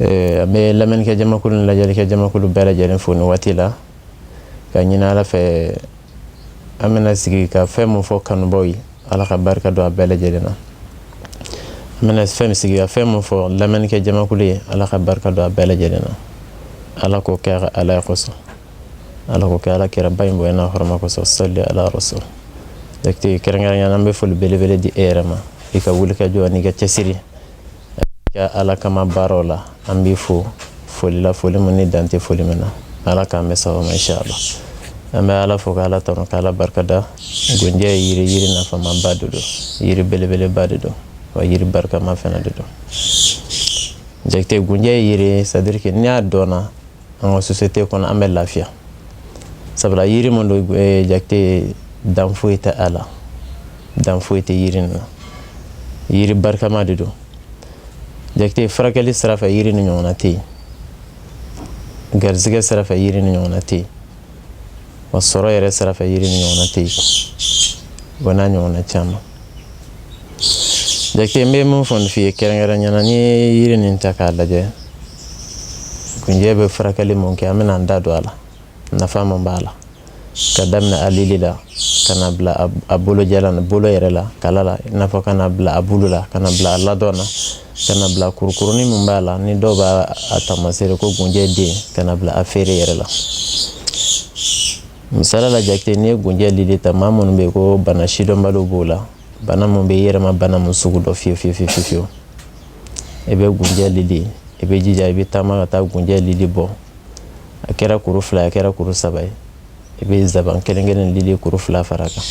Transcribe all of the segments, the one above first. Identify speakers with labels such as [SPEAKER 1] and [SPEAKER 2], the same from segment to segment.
[SPEAKER 1] an bɛ lamɛnnikɛ jamakulu ni lajɛlikɛ jamakulu bɛɛ lajɛlen fo nin waati la k'a ɲini ala fɛ an bɛna sigi ka fɛn min fɔ kanubaw ye ala ka barika don a bɛɛ lajɛlen na an bɛna fɛn sigi ka fɛn min fɔ lamɛnnikɛ jamakulu ye ala ka barika don a bɛɛ lajɛlen na ala k'o kɛ ka ala kosɔn ala k'o kɛ ala kira ba in bonya hɔrɔma kosɔn sali ala rasul kɛrɛnkɛrɛnnenya na an bɛ foli belebele di e yɛrɛ ma i ka wuli ka jɔ n'i ka cɛsiri ka ala kama baaraw la an b'i fo foli la foli min ni dan tɛ foli min na ala k'an bɛɛ saba ma siya la an bɛ ala fo ka ala tanu ka ala barika da gunjɛ ye yiri yiri nafamaba de don yiri belebeleba de don wa yiri barikama fana de don jakite gunjɛ ye yiri sadirike ni a dɔnna an ka sosiyete kɔnɔ an bɛ lafiya sabula yiri min don eh, jakite dan foyi tɛ a la dan foyi tɛ yiri nin na yiri barikama de don jakite furakɛli sira fɛ yiri nin ɲɔgɔnna tɛ yen garizigɛ sira fɛ yiri nin ɲɔgɔnna tɛ yen wa sɔrɔ yɛrɛ sira fɛ yiri nin ɲɔgɔnna tɛ yen o n'a ɲɔgɔnna caman jakite n bɛ min fɔ nin f'i ye kɛrɛnkɛrɛnnenya na n'i ye yiri nin ta k'a lajɛ gunjɛ bɛ furakɛli mun kɛ an bɛna an da don a la nafa min b'a la ka daminɛ a lili la ka na bila a bolo jalan na bolo yɛrɛ la kala la i n'a fɔ ka na bila a bulu la ka na bila a ladon na ka na bila kurukurunin min b'a la ni dɔw b'a taamasere ko gunjɛ den ka na bila a feere yɛrɛ la misala la jakite n'i ye gunjɛ lili ta maa minnu bɛ yen ko bana sidɔnbali b'u la bana mun b'i yɛrɛ ma bana mun sugu don fewu fewu fewu i bɛ gunjɛ lili i b'i jija i bɛ taama ka taa gunjɛ lili bɔ a kɛra kuru fila a kɛra kuru saba ye i bɛ zaban kelenkelen lili kuru fila fara kan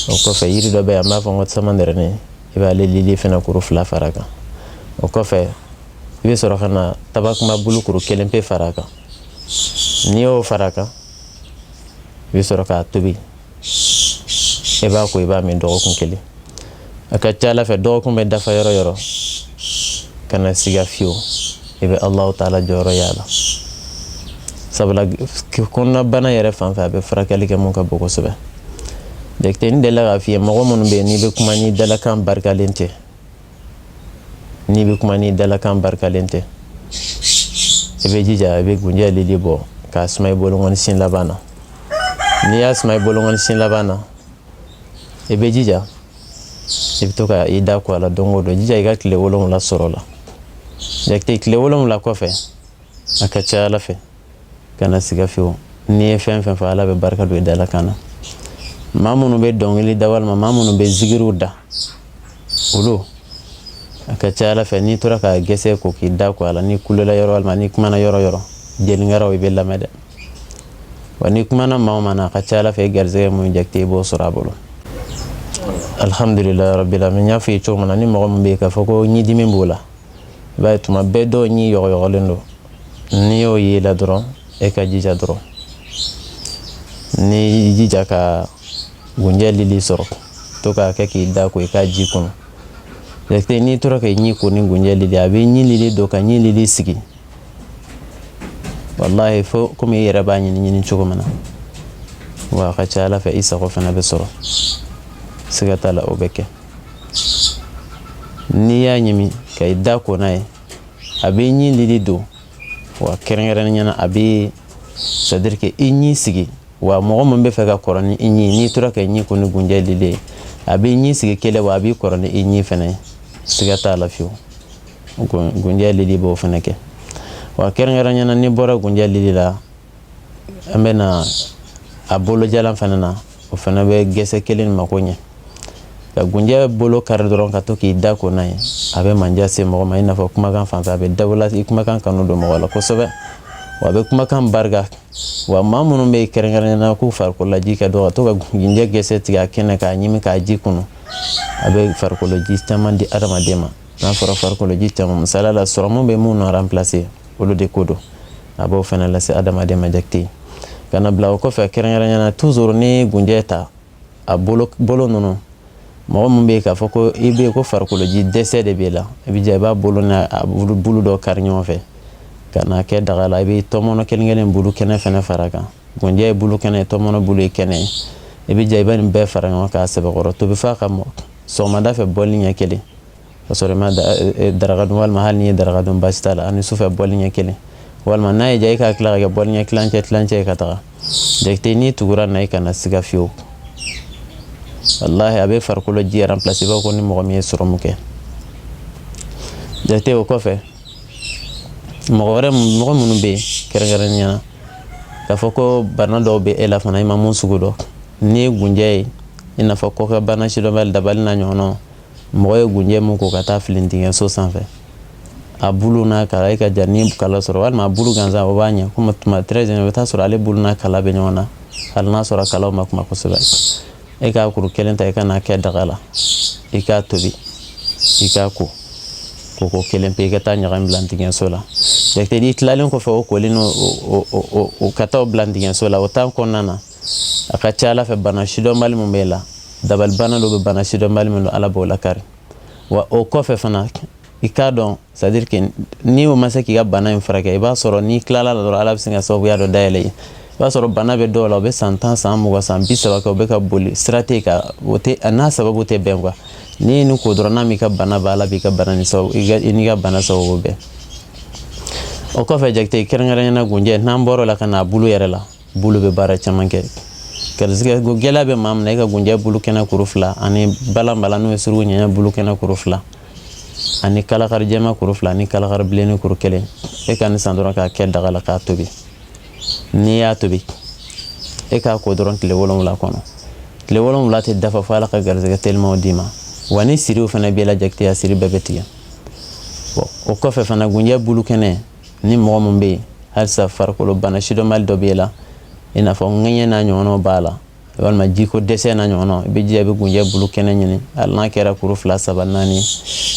[SPEAKER 1] o kɔfɛ yiri dɔ bɛ an b'a fɔ ko samanɛrɛnin i b'ale lili fana kuru fila fara kan o kɔfɛ i bɛ sɔrɔ ka na tabakunba bulu kuru kelen pe fara kan n'i y'o fara kan i bɛ sɔrɔ k'a tobi i b'a ko i b'a min dɔgɔkun kelen a ka ca ala fɛ dɔgɔkun bɛ dafa yɔrɔ yɔrɔ kana siga fewu i bɛ alahu taala jɔyɔrɔ y'a la sabula kɔnɔnabana yɛrɛ fan fɛ a bɛ furakɛli kɛ min ka bon kosɛbɛ jakite ne delila k'a f'i ye mɔgɔ minnu bɛ yen n'i bɛ kuma n'i dalakan barikalen tɛ n'i bɛ kuma n'i dalakan barikalen tɛ i bɛ jija i bɛ gunjɛ lili bɔ k'a suma i bolokɔni sin laban na n'i y'a suma i bolokɔni sin laban na i bɛ jija i bɛ to ka i da ko a la don o don jija i ka tile wolonwula sɔrɔ a la jakite tile wolonwula kɔfɛ a ka ca ala fɛ kana siga fiyewu n'i ye fɛn o fɛn fɔ ala bɛ barika don i dala kan na maa minnu bɛ dɔnkili da walima maa minnu bɛ zigiriw da olu a ka ca a la fɛ n'i tora ka gɛsɛ ko k'i da ko a la n'i kulela yɔrɔ walima n'i kumana yɔrɔ o yɔrɔ jeli ŋaraw b'i lamɛn dɛ wa n'i kumana maa o maa na a ka ca a la fɛ i garisɛgɛ mun jakite i b'o sɔrɔ a bolo alihamudulilayi rabili alamina n y'a f'i ye cogo min na ni mɔgɔ min bɛ yen k'a fɔ ko ɲidimi b'o la i b'a ye tuma bɛɛ dɔw ɲi yɔgɔyɔgɔlen don n'i y'o ye i la dɔrɔn e ka jija dɔrɔn n'i jija ka gunjɛ lili sɔrɔ to k'a kɛ k'i da ko i k'a ji kunu jakite n'i tora k'i ɲi ko ni gunjɛ lili a b'i ɲi lili don ka ɲi lili sigi walahi fo komi i yɛrɛ b'a ɲini cogo min na wa a ka ca a la fɛ i sago fana bɛ sɔrɔ siga t'a la o bɛ kɛ n'i y'a ɲimi ka i da ko n'a ye a b'i ɲi lili don wa kɛrɛnkɛrɛnnenya na a bɛ sɛtadiri ke i ɲi sigi wa mɔgɔ min b'a fɛ ka kɔrɔ ni i ɲi n'i tora k'i ɲi ko ni gunjɛ lili ye a b'i ɲi sigi kɛlɛ wa a b'i kɔrɔ ni i ɲi fana ye siga t'a la fiyewu gunjɛ lili b'o fana kɛ wa kɛrɛnkɛrɛnnenya na n'i bɔra gunjɛ lili la an bɛ na a bolojalan fana na o fana bɛ gɛsɛ kelen mako ɲɛ ka gunjɛ bolo kari dɔrɔn ka to k'i da ko n'a ye a bɛ manjɛ se mɔgɔ ma i n'a fɔ kumakan fan a bɛ dawula i kumakan kanu don mɔgɔ la kosɛbɛ wa a bɛ kumakan barika wa maa minnu bɛ yen kɛrɛnkɛrɛn na k'u farikoloji ka dɔgɔ ka to ka gunjɛ gɛsɛ tigɛ a kɛnɛ k'a ɲimi k'a ji kunu a bɛ farikoloji caman di adamaden ma n'a fɔra farikoloji caman misali la sɔrɔmu bɛ mun nɔ ranplase olu de ko don a b'o fana lase adamaden ma jakite ka n'a bila o kɔfɛ kɛrɛnkɛrɛnyana tuzuru ni gunjɛ ta a bolo ninnu mɔgɔ min bɛ yen k'a fɔ ko i bɛ yen ko farikoloji dɛsɛ de b'e la i bɛ jɛ i b'a bolo n'a bulu dɔ kari ɲɔgɔn fɛ ka n'a kɛ daga la i bɛ tɔmɔnɔ kelen kelen bulu kɛnɛ fɛnɛ fara a kan gunjɛ ye bulu kɛnɛ ye tɔmɔnɔ bulu ye kɛnɛ ye i bɛ jɛ i bɛ nin bɛɛ fara ɲɔgɔn kan k'a sɛbɛkɔrɔ tobi f'a ka mɔ sɔgɔmada fɛ bɔli ɲɛ kelen ka sɔrɔ i ma daraka dun walima hali n'i ye daraka dun basi t'a la ani sufɛ bɔli ɲɛ kelen walima n'a y'i diya i k'a tila ka kɛ bɔli ɲɛ tilancɛ tilancɛ ye ka taga jakite n'i tugura na i kana siga fiyewu walahi a bɛ farikolo ji ranplase b'a ko ni mɔgɔ min ye sɔrɔmu kɛ jakite o kɔfɛ mɔgɔ wɛrɛ mɔgɔ minnu bɛ yen kɛrɛnkɛrɛnnenya na k'a fɔ ko bana dɔw bɛ e la fana i ma mun sugu dɔn n'i ye gunjɛ ye i n'a fɔ kɔkɛ bana sidɔnbali dabali n'a ɲɔgɔnnaw mɔgɔ ye gunjɛ min ko ka taa fili ntigɛnso sanfɛ a bulu n'a kala e ka jan ni kala sɔrɔ walima a bulu gansan o b'a ɲɛ komi tuma très bien i bɛ taa sɔrɔ ale bulu n'a kala bɛ ɲɔgɔn na hali n'a sɔrɔ kalaw man kunba kosɛbɛ e k'a kuru kelen ta i ka n'a kɛ daga la i k'a tobi i k'a ko koko kelen pe i ka taa ɲagami bila ntigɛnso la jakite n'i tilalen kɔfɛ o kolen no o ka taa o bila ntigɛnso la o temps kɔnɔna na a ka ca ala fɛ bana sidɔnbali min b'e la dabali bana dɔ bɛ bana sidɔnbali min don ala b'o lakari wa o kɔfɛ fana i k'a dɔn c'est-à-dire que n'i o ma se k'i ka bana in furakɛ i b'a sɔrɔ n'i tilala la dɔrɔn ala bɛ sin ka sababuya dɔ dayɛlɛ i ye i b'a sɔrɔ bana bɛ dɔw la o bɛ san tan san mugan san bi saba kɛ o bɛ ka boli sira tɛ ka o tɛ a n'a sababu tɛ bɛn quoi n'i ye nin ko dɔrɔn n'a m'i ka bana ban ala b'i ka bana ni sababu i n'i ka bana sababu bɛn o kɔfɛ jakite kɛrɛnkɛrɛnyana gunjɛ n'an bɔr'o la ka n'a bulu yɛrɛ la bulu bɛ baara caman kɛ garisɛgɛ ko gɛlɛya bɛ maa min na i ka gunjɛ bulu kɛnɛ kuru fila ani balanbalan n'o ye suruku ɲɛ bulu kɛnɛ kuru fila ani kalakari jɛma kuru fila ni kalakari bilenni kuru kelen e ka nin san dɔrɔn k'a kɛ daga la k'a tobi n'i y'a tobi e k'a ko dɔrɔn tile wolonwula kɔnɔ tile wolonwula tɛ dafa fo ala ka garisɛgɛ telimaw d'i ma wa ni siriw fana b'i la jakite siri bɛɛ bɛ tigɛ o kɔfɛ fana gunjɛ bulu kɛnɛ ni mɔgɔ min bɛ yen halisa farikolo bana sidɔnbali dɔ b'e la i n'a fɔ ŋɛɲɛ n'a ɲɔgɔnnaw b'a la walima jiko dɛsɛ n'a ɲɔgɔnnaw i bɛ jija i bɛ gunjɛ bulu kɛnɛ ɲini hali n'a kɛra kuru fila saba naani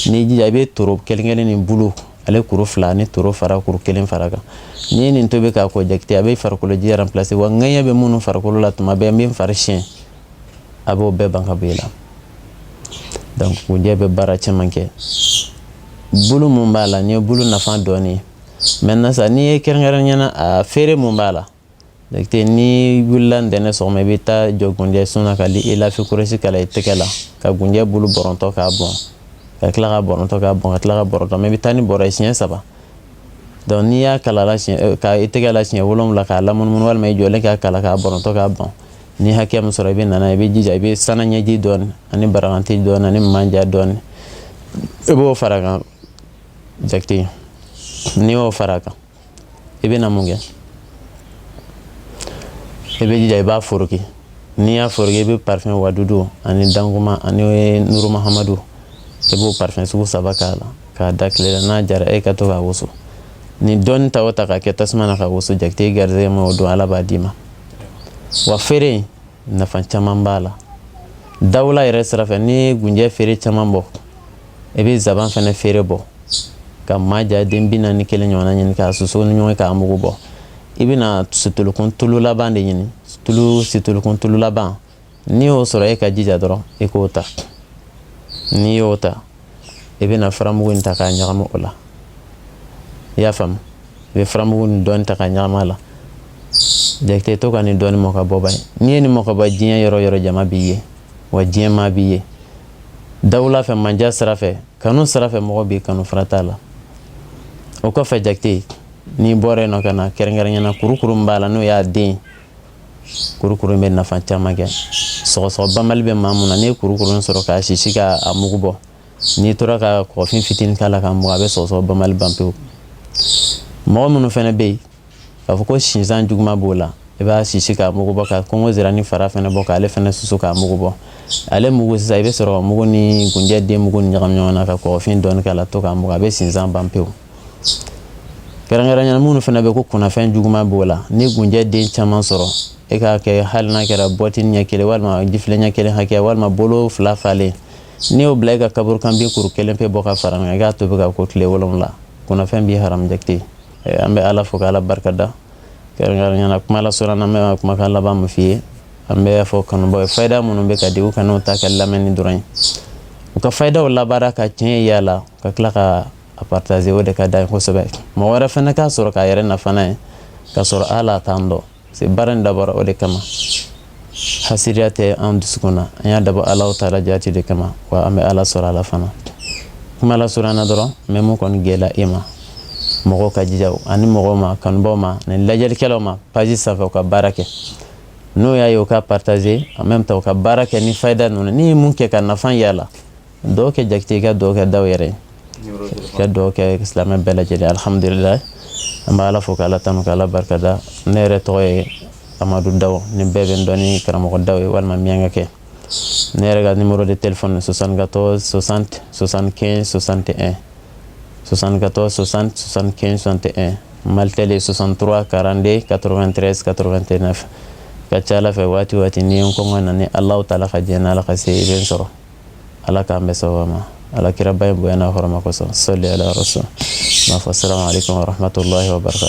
[SPEAKER 1] n'i jija i bɛ toro kelen kelen ni bulu ale kuru fila ni toro fara kuru kelen fara a kan n'i ye nin tobi k'a ko jakite a bɛ farikolo ji remplacer wa ŋɛɲɛ bɛ minnu farikolo la tuma bɛɛ n bɛ n fari siyɛn a b'o bɛɛ ban ka bɔ i la donc gunjɛ bɛ baara caman kɛ bulu mun b'a la nin ye bulu nafa dɔɔni ye maintenant sa n'i ye kɛrɛnkɛrɛnnenya na a feere mun b'a la donc n'i wulila ntɛnɛ sɔgɔma i bɛ taa jɔ gunjɛ sun na ka li ilafi kurayisi kalan i tɛgɛ la ka gunjɛ bulu bɔrɔntɔ k'a bɔn ka tila k'a bɔrɔntɔ k'a bɔn ka tila k'a bɔrɔntɔ mais i bɛ taa ni bɔrɔ ye siɲɛ saba donc n'i y'a kalan la siɲɛ ka i tɛgɛ la siɲɛ wolonwula k'a lamunumunu walima i jɔlen k'a kalan k'a bɔrɔntɔ k'a bɔn ni hakɛ min sɔrɔ i bɛ nana i bɛ jija i bɛ sana ɲɛji dɔɔni ani barakanti dɔɔni ani manja dɔɔni i b'o fara a kan jakite n'i y'o fara a kan i bɛ na mun kɛ i bɛ jija i b'a foroki n'i y'a foroki i bɛ parifɛn wadudu ani danguma ani nuru mahamadu i b'o parifɛn sugu saba k'a la k'a da tile la n'a jara e ka to k'a wusu ni dɔɔni ta o ta k'a kɛ tasuma na k'a wusu jakite garizɛgɛ ma o don ala b'a d'i ma wa feere nafa caman b'a la dawula yɛrɛ sira fɛ n'i ye gunjɛ feere caman bɔ i bɛ zaban fɛnɛ feere bɔ ka manja den bi naani kelen ɲɔgɔnna ɲini k'a susu ni ɲɔgɔn k'a mugu bɔ i bɛna situlukun tulu laban de ɲini situlukun tulu laban n'i y'o sɔrɔ e ka jija dɔrɔn i k'o ta n'i y'o ta i bɛna faramugu in ta k'a ɲagami o la i y'a faamu i bɛ faramugu nin dɔɔni ta k'a ɲagami a la jakite to ka nin dɔɔni mu ka bɔ ba ye n'i ye nin mu ka bɔ diɲɛ yɔrɔ yɔrɔ jama b'i ye wa diɲɛ maa b'i ye dawula fɛ mandiya sira fɛ kanu sira fɛ mɔgɔ b'i kanu fara t'a la o kɔfɛ jakite n'i bɔra yen nɔ ka na kɛrɛnkɛrɛnyana kurukuru min b'a la n'o y'a den kurukuru in bɛ nafa caman kɛ sɔgɔsɔgɔ banbali bɛ maa min na n'i ye kurukuru in sɔrɔ k'a sisi k'a mugu bɔ n'i tora ka kɔgɔfin fitinin k'a la k'a mugu a bɛ sɔgɔsɔgɔ banbali ban pewu mɔgɔ minnu fana bɛ yen k'a fɔ ko sinsan juguman b'o la i b'a sisi k'a mugu bɔ ka kɔngɔ sirani fara fana bɔ k'ale fana susu k'a mugu bɔ ale mugu sisan i bɛ sɔrɔ k'a mugu ni gunjɛ den mugu nin ɲagami ɲɔgɔn na ka kɔgɔfin dɔɔni k'a la to k'a mugu a bɛ sinsan ban pewu kɛrɛnkɛrɛnyana minnu fana bɛ ko kunnafɛn juguman b'o la n'i gunjɛ den caman sɔrɔ e k'a kɛ hali n'a kɛra bɔti ɲɛ kelen walima jifilen ɲɛ kelen hakɛ walima bolo fila falen n'i y'o bila e ka kaburu kan bin kuru kelen pe bɔ ka fara a kan i k'a tobi ka ko tile wolonwula kunnafɛn b'i haramu jakite an bɛ ala fo k'ala barika da kɛrɛnkɛrɛnyana kuma la sɔrɔ n'an bɛ kumakan laban min f'i ye an b'a fɔ kanubaw ye fayida minnu bɛ ka di u kan'o ta kɛ lamɛnni dɔrɔn ye u ka fayidaw labaara ka tiɲɛ y'a la ka tila ka a partager o de ka da kosɛbɛ mɔgɔ wɛrɛ fana k'a sɔrɔ k'a yɛrɛ nafa n'a ye ka sɔrɔ ala t'an dɔn c'est baara in dabɔra o de kama hasidiya tɛ an dusu na an y'a dabɔ ala taala jati de kama wa an bɛ ala sɔrɔ ala fana kuma ala sɔrɔ an na dɔrɔn mais mun kɔni gɛlɛya e ma mɔgɔw ka jija ani mɔgɔw ma kanubaw ma ni lajɛlikɛlaw ma page sanfɛ u ka baara kɛ n'o y'a ye u ka partager en même temps u ka baara kɛ ni fayida ninnu n'i ye min kɛ ka nafa y'a la duwa kɛ jakite ye ka duwa kɛ daw yɛrɛ ka duwa kɛ silamɛ bɛɛ lajɛlen alihamudulila an bɛ ala fo k'ala tanu k'ala barikada ne yɛrɛ tɔgɔ ye amadu daw ni bɛɛ bɛ n dɔn ni karamɔgɔ daw ye walima miyanka kɛ ne yɛrɛ ka numéro de téléphone soixante-quatorze soixante soixante-quinze soixante et un soixante-quatorze soixante soixante-quinze soixante et un malitɛli soixante-trois quarante-deux quatre-vingt-treize quatre-vingt-neuf ka ca ala fɛ waati waati n'i ye n kɔngɔ na ni alahu taala ka diɲɛ n'ala ka se i bɛ n sɔrɔ ala k'an bɛ saba ma ala kiraba ye bonya n'a hɔrɔnma kosɔn seli alayɔrɔso n'a fɔ sira ale kamahamatɔla barika